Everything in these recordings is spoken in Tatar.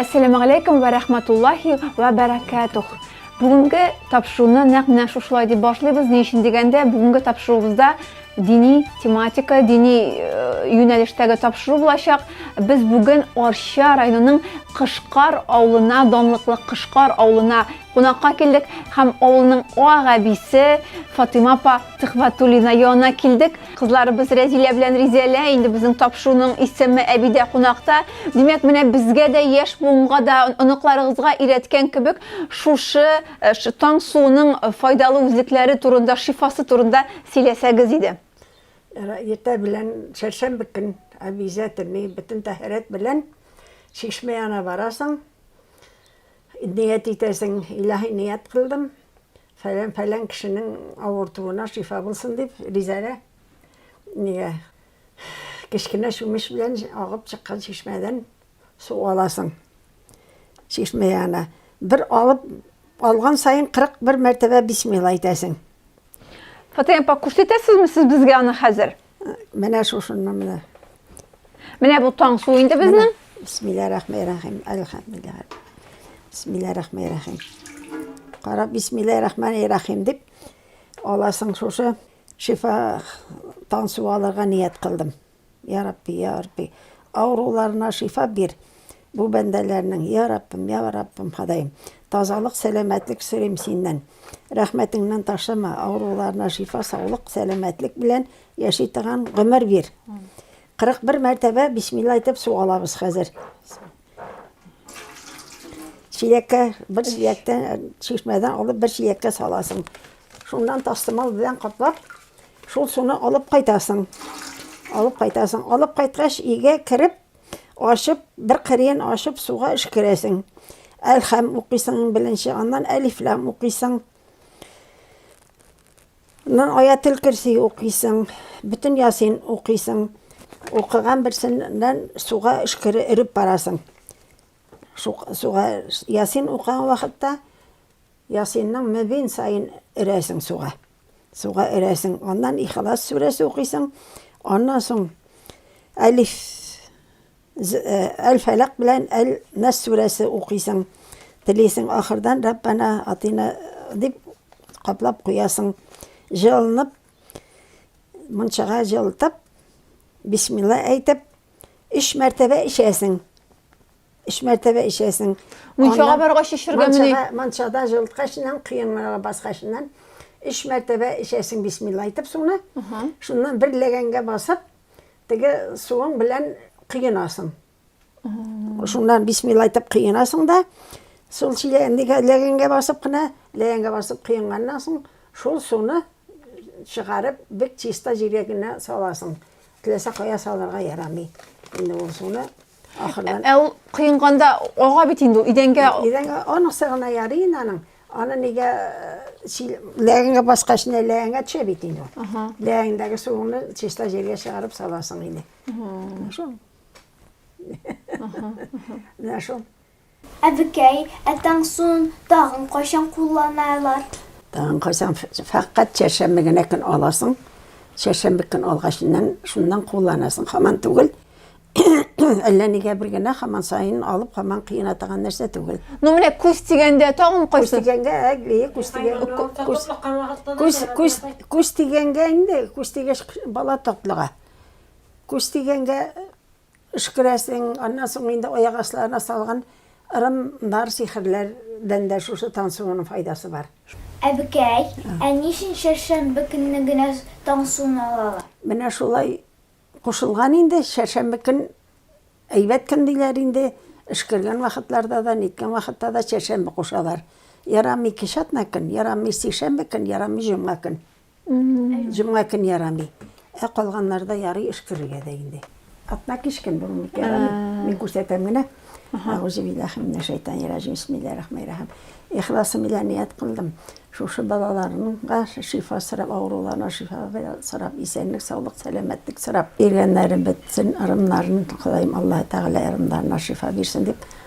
Әссәламу галәйкүм вә рәхмәтуллаһи вә бәрәкәтүх. Бүгенге тапшыруны нәкъ менә шушылай дип башлыйбыз. Ни өчен дигәндә, бүгенге тапшыруыбызда дини тематика, дини э, юнәлештәге тапшыру булачак. Без бүген Арча районының Кышкар авылына, данлыклы Кышкар авылына кунакка килдек һәм авылның ак әбисе Фатыйма апа Төхвәтуллина янына килдек. Кызларыбыз Рәзилә белән Ризәлә инде безнең тапшыруның исеме әбидә кунакта. Димәк, менә безгә дә яшь буынга да оныкларыгызга өйрәткән кебек шушы э, таң суының э, файдалы үзлекләре турында, шифасы турында сөйләсәгез иде. Иртә белән чәршәмбе көн әбизә тени бөтен тәһарәт белән чишмә янына барасың. Ният итәсең, илаһи ният кылдым. Фәлән-фәлән кешенең авыртуына шифа булсын дип, ризарә. Нигә? Кечкенә чүмеч белән агып чыккан чишмәдән су аласың. Чишмә янына бер алып алган саен 41 мәртәбә бисмилла әйтәсең. Фатыйма апа, күрсәтәсезме сез безгә аны хәзер? Менә шушыннан менә. Менә бу таң су инде безнең. Бисмилла рахман рахим. Әлхәмдулилла. Бисмилла рахман рахим. Кара бисмилла рахман рахим дип аласың шушы шифа таң су алырга ният кылдым. Я Рабби, я Рабби, авыруларына шифа бир. Бу бәндәләрнең, Йа Раббым, Йа Раббым, Ходаем, тазалык, сәламәтлек сорыйм Синнән. Рәхмәтеңнән ташлама, авыруларына шифа, саулык, сәламәтлек белән яши торган гомер бир. 41 мәртәбә бисмилла әйтеп су алабыз хәзер. Чиләккә, бер чиләктән, э, чишмәдән алып бер чиләккә саласың. Шуннан тастымал белән каплап, шул суны алып кайтасың. Алып кайтасың. Алып кайткач, өйгә кереп, Ачып, бер кырыен ачып, суга эшкерәсең. Әлхәм укыйсың беренче, аннан әлифләм укыйсың. Аннан аятел керси укыйсың, бөтен ясин укыйсың. Укыган берсеннән суга эшкере өреп барасың. Суга ясин укыган вакытта ясинның мөбин сайын өрәсең суга. суга өрәсең, аннан Ихлас сүрәсе укыйсың, аннан соң Әлиф Әл-Фәләк э, белән Әл-Нас сүрәсе укыйсың. Телисең ахырдан Раббана атина дип каплап куясың. Җылынып мунчага җылытып, бисмилла әйтеп, өч мәртәбә эчәсең. Өч мәртәбә эчәсең. Мунчага баргач эчергә мени? Мунчада җылыткачыннан, кыенлыгы баскачыннан өч мәртәбә эчәсең бисмилла әйтеп суны. Шуннан бер ләгәнгә басып, теге суың белән кыенасың. Шуннан бисмилла әйтеп кыенасың да, шул чиләгәндәге ләгәнгә басып кына, ләгәнгә басып кыенганнан соң, шул суны чыгарып, бик чиста җиргә генә саласың. Теләсә кая салырга ярамый. Инде ул суны Ахырдан. Ә ул кыйнганда ага бит инде ул идәнгә. Идәнгә аның сыгына ярый инде аның. Аны нигә ләгәнгә баскач не ләгәнгә төшә бит инде ул. Ләгәндәге суны чиста җиргә чыгарып саласың инде. Шул. Менә шул. Әбекәй, ә Таңсуын тагын кайчан кулланалар? Тагын кайчан, фәкать чәршәмбе генә көн аласың, чәршәмбе көн алгач иннән шуннан кулланасың, хаман түгел, әллә нигә бер генә хаман саен алып, хаман кыена таган нәрсә түгел. Ну менә күз тигәндә тагын кайсы? Күз тигәнгә, әйе, күз тигән, күз тигәнгә инде, күз тигәч бала татлыга. Күз тигәнгә Өшкерәсең, аннан соң инде аяк асларына салган ырым бар сихерләрдән дә шушы таң суының файдасы бар. Әбекәй, ә ни өчен чәршәмбе көнне генә таң суын алалар? Менә шулай кушылган инде, чәршәмбе көн әйбәт көн диләр инде, өшкергән вакытларда да, ниткән вакытта да чәршәмбе кушалар. Ярамый ике чатна көн, ярамый сишәмбе көн, ярамый җомга көн. Җомга көн ярамый. Ә калганнарда ярый эш керергә дә инде. Атна кич көн бүген ник ярамый? Мин күрсәтәм генә. Аузы биллахи минә шайтан яраҗим. Бисмиллаһи рахмани рахим. Ихласым белән ният кылдым. Шушы балаларымга шифа сорап, авыруларына шифа сорап, исәнлек, саулык, сәламәтлек сорап, иргәннәрем бетсен, ырымнарын Ходаем Аллаһы Тәгалә ырымнарына шифа бирсен дип,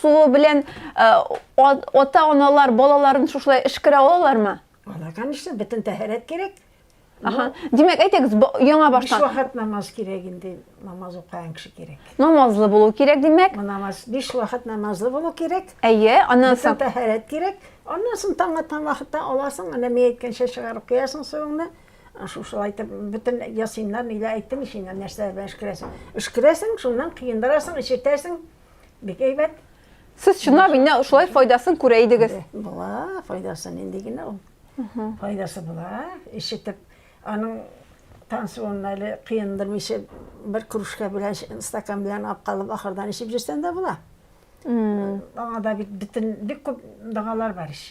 Суы белән ата аналар балаларын шушылай эшкерә алалармы? Ана, конечно, бөтен тәһарәт кирәк. Аха. Димәк, әйтегез, яңа баштан. Биш вакыт намаз кирәк инде, намаз укыган кеше кирәк. Намазлы булу кирәк, димәк. Намаз биш вакыт намазлы булу кирәк. Әйе, аннан соң тәһарәт кирәк. Аннан соң таң аткан вакытта аласың, әнә мин әйткәнчә чыгарып куясың суыңны. Шушылай итеп бөтен ясыймнар, ниләр әйттем ич инде, нәрсәләр белән өшкерәсең. Өшкерәсең, шуннан коендырасың, эчертәсең. Бик әйбәт. Сез чынлап инде шулай файдасын күрә идегез. Була, файдасы нинди генә ул. Файдасы була. Ишетеп, аның тансуын әле кыендырмыйча бер кружка белән, стакан белән алып калып, ахырдан эчеп җөрсәң дә була. Аңа да бит бөтен бик күп дагалар бар ич.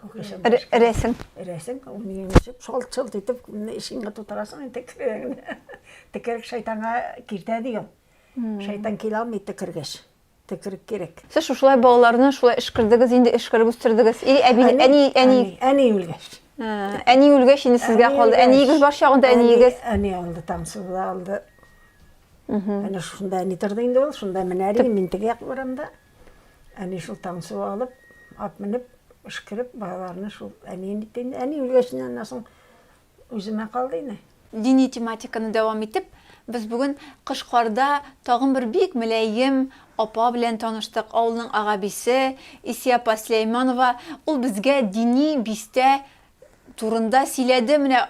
Рәсем. Рәсем, ул миңа ничек шалт-шалт итеп ишегеңә тутырасың инде керәгенә. Текерек шайтанга киртә дигән. Шайтан килә алмый текергәч. Текерек кирәк. Сез шушылай балаларны шулай эшкердегез, инде эшкереп үстердегез. Или әби, әни, әни. Әни үлгәч. Әни үлгәч инде сезгә калды. Әниегез бар чагында әниегез. Әни алды, тамсызда алды. Әнә шушында әни торды инде ул, шунда менә мин теге як урамда. Әни шул Таңсуы алып, ат менеп, ышкырып, балаларны шул әни инде инде әни үлгәченнән аннан соң үземә калды инде. Дини тематиканы дәвам итеп, без бүген Кышкарда тагын бер бик мөләем апа белән таныштык, авылның агабисе, Исия апа Сөләйманова. Ул безгә дини бистә турында сөйләде. Менә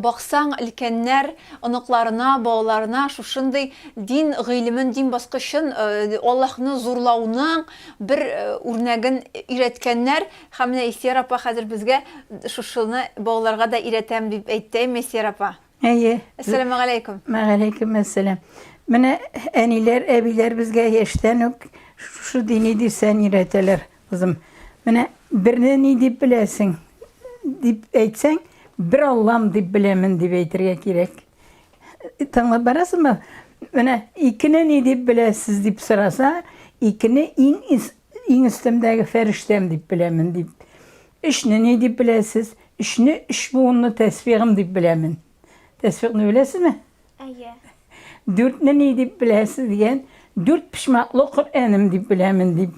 баксаң, өлкәннәр оныкларына, балаларына шушындый дин гыйлемен, дин баскычын, Аллаһны зурлауның бер үрнәген өйрәткәннәр. Һәм менә Исияр апа хәзер безгә шушыны балаларга да өйрәтәм дип әйтте, әйеме, Исияр апа? Әйе. Әссәламәгаләйкүм. Мәгаләйкүм әссәлам. Менә әниләр, әбиләр безгә яшьтән үк шушы дини дөрсән өйрәтәләр. Кызым, менә берне ни дип беләсең, дип әйтсәң, бер Аллам дип беләмен дип әйтергә кирәк. Тыңлап барасызмы? Менә икене ни дип беләсез дип сораса, икене иң иң өстемдәге фәрештәм дип беләмен дип. Өчне ни дип беләсез? Өчне өч буынлы тәсбигым дип беләмен. Тәсбигны беләсезме? Әйе. Дүртне ни дип беләсез дигән, дүрт почмаклы Коръәнем дип беләмен дип.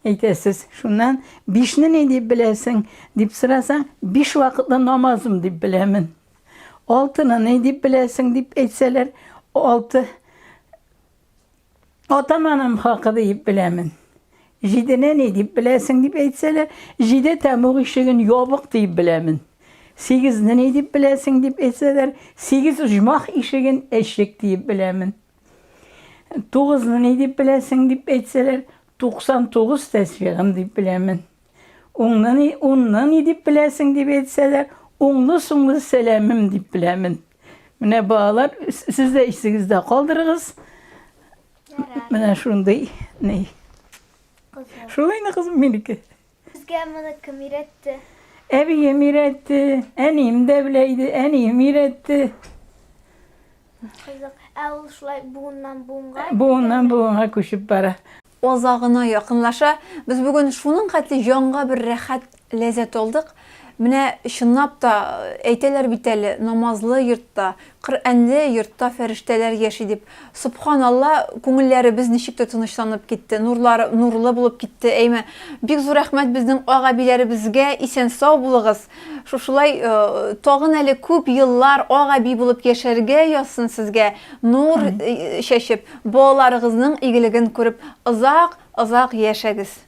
Әйтәсез, шуннан, бишне ни дип беләсең, дип сорасаң, биш вакытлы намазым дип беләмен. Алтыны ни дип беләсең, дип әйтсәләр, алты атаманым хакы дип беләмен. Җидене ни дип беләсең, дип әйтсәләр, җиде тәмуг ишеген ябык дип беләмен. Сигезне ни дип беләсең, дип әйтсәләр, сигез оҗмах ишеген әчек дип беләмен. Тугызны ни дип беләсең дип әйтсәләр, 99 тәсбигым дип беләмен. Уңны ни, унны ни дип беләсең дип әйтсәләр, уңлы соңлы сәламем дип беләмен. Менә балалар, сез дә исегездә калдырыгыз. Менә шундый ни. Шулай кызым минеке. Сезгә моны кем өйрәтте? Әбием өйрәтте, әнием дә белә иде, әнием өйрәтте. Кызык. Ә ул шулай буыннан буынга? Буыннан буынга күчеп бара. Оза гына якынлаша. Без бүген шуның хәтле җанга бер рәхәт ләззәт алдык. Менә чынлап та әйтәләр бит әле, намазлы йортта Коръәнле йортта фәрештәләр яши дип. Собханалла, күңелләребез ничек тә тынычланып китте, нурлар нурлы булып китте, әйме. Бик зур рәхмәт безнең ак-әбиләребезгә, исән-сау булыгыз. Шушылай тагын әле күп еллар ак-әби булып яшәргә язсын сезгә, нур чәчеп, балаларыгызның игелеген күреп озак, озак яшәгез.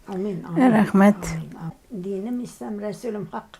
Амин, амин. Рәхмәт. Динем ислам, Рәсүлем хак.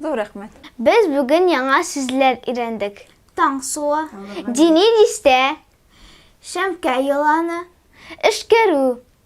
Зур рәхмәт. Без бүген яңа сүзләр өйрәндек. Таң суы. Дини дистә. Шәмкә еланы. Эшкәрү.